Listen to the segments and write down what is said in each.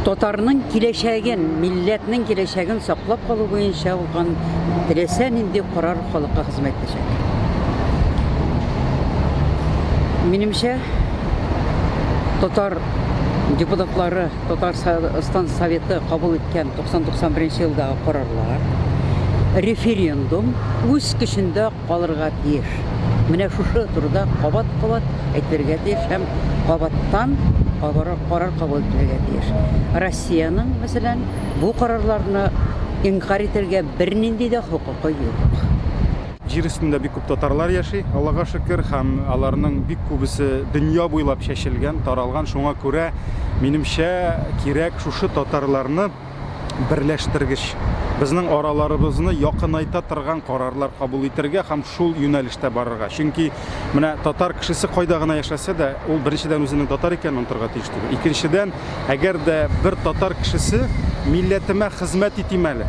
Татарның киләчәген, милләтнең киләчәген саклап калу буенча алган теләсә нинди карар халыкка хезмәт итәчәк. Минемчә, татар депутатлары, татар стан советы кабул иткән 90-91 елдагы карарлар, референдум үз көчендә калырга тиеш. Менә шушы турыда кабат-кабат әйтелергә тиеш һәм кабаттан карар кабул ителергә тиеш. Россиянең, мәсәлән, бу карарларны инкарь итәргә бернинди дә хокукы юк. Җир өстендә бик күп татарлар яши, Аллага шөкер, һәм аларның бик күбесе дөнья буйлап чәчелгән, таралган, шуңа күрә, минемчә, кирәк шушы татарларны, берләштергеч, безнең араларыбызны якынайта торган карарлар кабул итәргә һәм шул юнәлештә барырга. Чөнки менә татар кешесе кайда гына яшәсә дә, ул беренчедән үзенең татар икәнен онытырга тиеш түгел. Икенчедән, әгәр дә бер татар кешесе милләтемә хезмәт итим әле,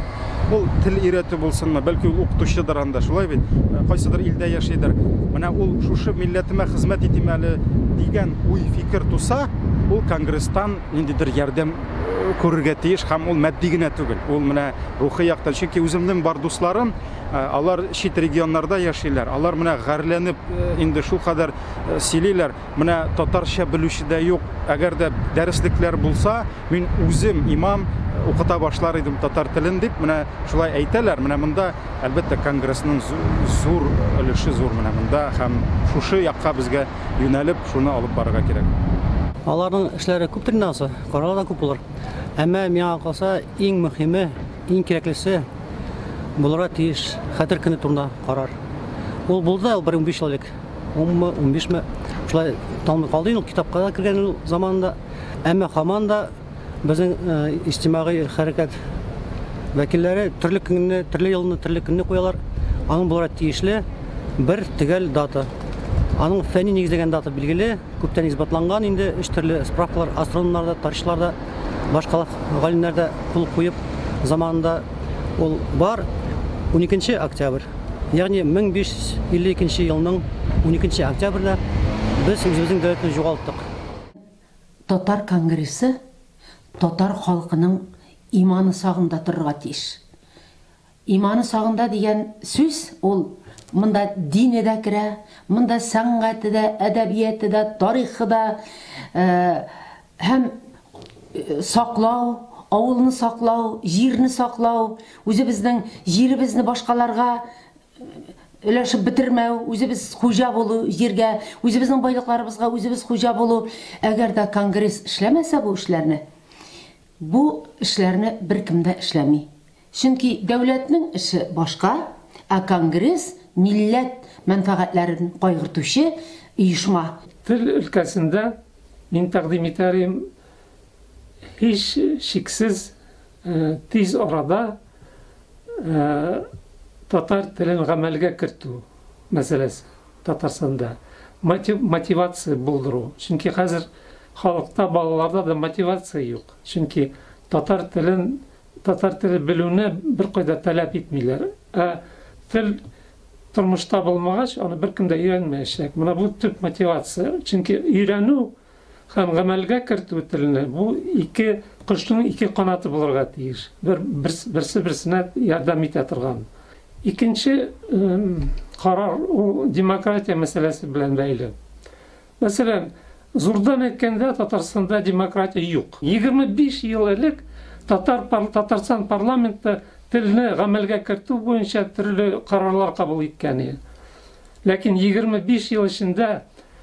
ул тел өйрәтү булсынмы, бәлки ул укытучыдыр анда, шулай бит, кайсыдыр илдә яшидер. Менә ул шушы милләтемә хезмәт итим әле дигән уй-фикер туса, ул конгресстан ниндидер ярдәм күрергә тиеш һәм ул матди генә түгел ул менә рухи яктан чөнки үземнең бар дусларым э, алар чит регионнарда яшиләр алар менә гарьләнеп э, инде шул кадәр э, сөйлиләр менә татарча белүче дә юк әгәр дә дәреслекләр булса мин үзем имам укыта башлар идем татар телен дип менә шулай әйтәләр менә монда әлбәттә конгрессның зур өлеше зур менә монда һәм шушы якка безгә юнәлеп, шуны алып барырга кирәк. Аларның эшләре күптер инде ансы, карары да күп булыр. Әмма миңа калса, иң мөхиме, иң кирәклесе булырга тиеш Хәтер көне турында карар. Ул булды, ул бер 15 ел элек. 10-мы, 15-ме, шулай тамлый калды инде ул китапка да кергән ул заманында. Әмма хаман да Безнең иҗтимагый хәрәкәт вәкилләре төрле көнне, төрле елны, төрле көнне куялар. Аның буларак тиешле бер төгәл дата. Аның фәнни нигезләгән дата билгеле, күптән исбатланган инде, өч төрле справкалар астрономнар да, тарихчылар да, башка галимнәр дә кул куеп заманында ул бар. 12 октябрь, ягъни 1552 елның 12 октябрьдә без үзебезнең дәүләтне югалттык. Татар конгрессы татар халкының иманы сагында торырга тиеш. Иманы сагында дигән сүз ул монда дине дә керә, монда сәнгате дә, әдәбияте дә, тарихы да һәм саклау, авылны саклау, җирне саклау, үзебезнең җиребезне башкаларга өләшеп бетермәү, үзебез хуҗа булу җиргә, үзебезнең байлыкларыбызга үзебез хуҗа булу. Әгәр дә конгресс эшләмәсә бу эшләрне, бу эшләрне беркем дә эшләми. Чөнки дәүләтнең эше башка, ә конгресс, милләт мәнфәгатьләрен кайгыртучы оешма. Тел өлкәсендә мин тәкъдим итәр идем, Һичшиксез, тиз арада татар телен гамәлгә кертү мәсьәләсе Татарстанда, мотивация булдыру. Чөнки хәзер халыкта, балаларда да мотивация юк. Чөнки татар телен, татар теле белүне беркайда таләп итмиләр. Ә тел тормышта булмагач, аны беркем дә өйрәнмәячәк. Менә бу төп мотивация. Чөнки өйрәнү, Һәм гамәлгә кертү телне бу ике кошның ике канаты булырга тиеш. Бер берсе берсенә ярдәм итә торган. Икенче карар ул демократия мәсьәләсе белән бәйле. Мәсәлән, зурдан әйткәндә Татарстанда демократия юк. 25 ел элек Татар Татарстан парламенты телне гамәлгә кертү буенча төрле карарлар кабул иткән иде. Ләкин 25 ел эчендә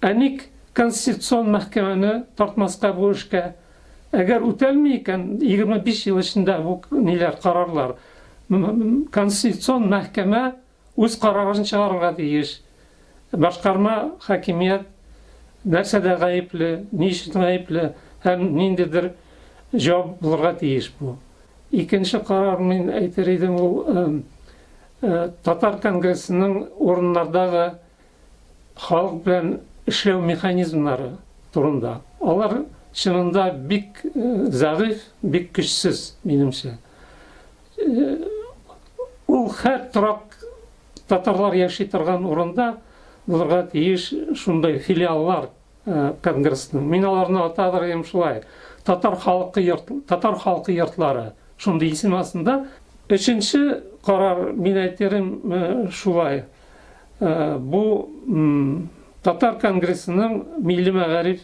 Ә ник Конституцион мәхкәмәне тартмаска бу эшкә? Әгәр үтәлми икән, егерме биш ел эчендә бу ниләр, карарлар, Конституцион мәхкәмә үз карарын чыгарырга тиеш. Башкарма хакимият нәрсәдә гаепле, ни өчен гаепле һәм ниндидер җавап булырга тиеш бу. Икенче карар, мин әйтер идем, ул Татар конгрессының урыннардагы халык белән эшләү механизмнары турында. Алар чынында бик зәгыйфь, бик көчсез, минемчә. Ул хәт торак татарлар яши торган урында булырга тиеш шундай филиаллар конгрессның. Мин аларны атадыр идем шулай. Татар халкы йорт, татар халкы йортлары шундый исем астында. Өченче карар мин әйтерем шулай. Э, бу татар конгрессының милли мәгариф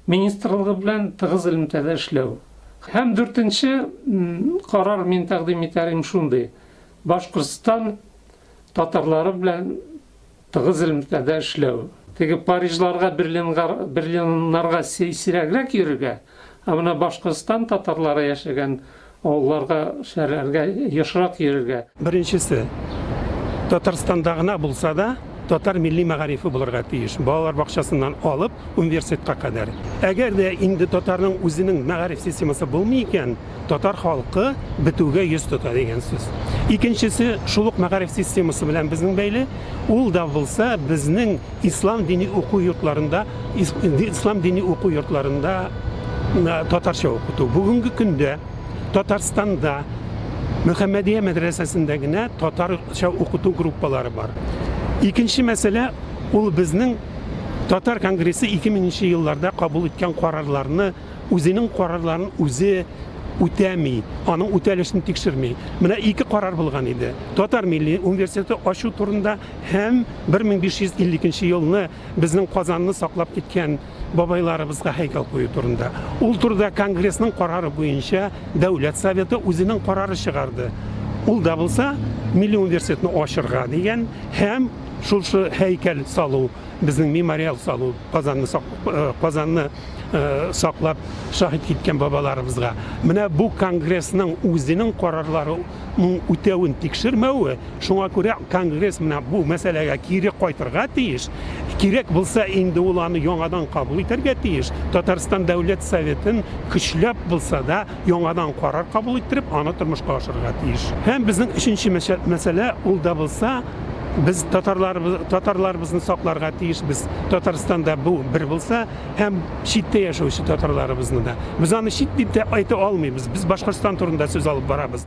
министрлыгы белән тыгыз элемтәдә эшләү һәм дүртенче карар мин тәкъдим итәрем шундый башкортстан татарлары белән тыгыз элемтәдә эшләү теге парижларга берлиннарга сирәгрәк йөрергә ә менә башкортстан татарлары яшәгән Авылларга, шәһәрләргә ешрак йөрергә. Беренчесе, Татарстанда гына булса да, татар милли мәгарифе булырга тиеш, балалар бакчасыннан алып, университетка кадәр. Әгәр дә инде татарның үзенең мәгариф системасы булмый икән, татар халкы бетүгә йөз тота дигән сүз. Икенчесе, шул ук мәгариф системасы белән безнең бәйле, ул да булса безнең, Ислам дини уку йортларында ислам дини уку йортларында татарча укыту. Бүгенге көндә Татарстанда Мөхәммәдия мәдрәсәсендә генә татарча укыту группалары бар. Икенче мәсьәлә ул безнең Татар конгрессы 2000 елларда кабул иткән карарларны үзенең карарларын үзе үтәми, аның үтәлешен тикшерми. Менә ике карар булган иде. Татар милли университеты ачу турында Һәм 1552 елны безнең Казанны саклап киткән бабайларыбызга һәйкәл кую турында. Ул турыда конгрессның карары буенча Дәүләт Советы үзенең карары чыгарды. Ул да булса, милли университетны ачырга дигән һәм шушы һәйкәл салу, безнең мемориал салу, Казанны э, Казанны э, саклап шаһит киткән бабаларыбызга. Менә бу конгрессның үзенең карарлары ның үтәвен тикшермәве, шуңа күрә конгресс менә бу мәсьәләгә кире кайтырга тиеш, кирәк булса, инде ул аны яңадан кабул итәргә тиеш, Татарстан Дәүләт Советын көчләп булса да яңадан карар кабул иттереп, аны тормышка ашырырга тиеш. Һәм безнең өченче мәсьәлә, ул да булса, без татарларыбызны сакларга тиешбез, Татарстанда бу бер булса, һәм читтә яшәүче татарларыбызны да. Без аны чит дип тә әйтә алмыйбыз, без Башкортстан турында сүз алып барабыз.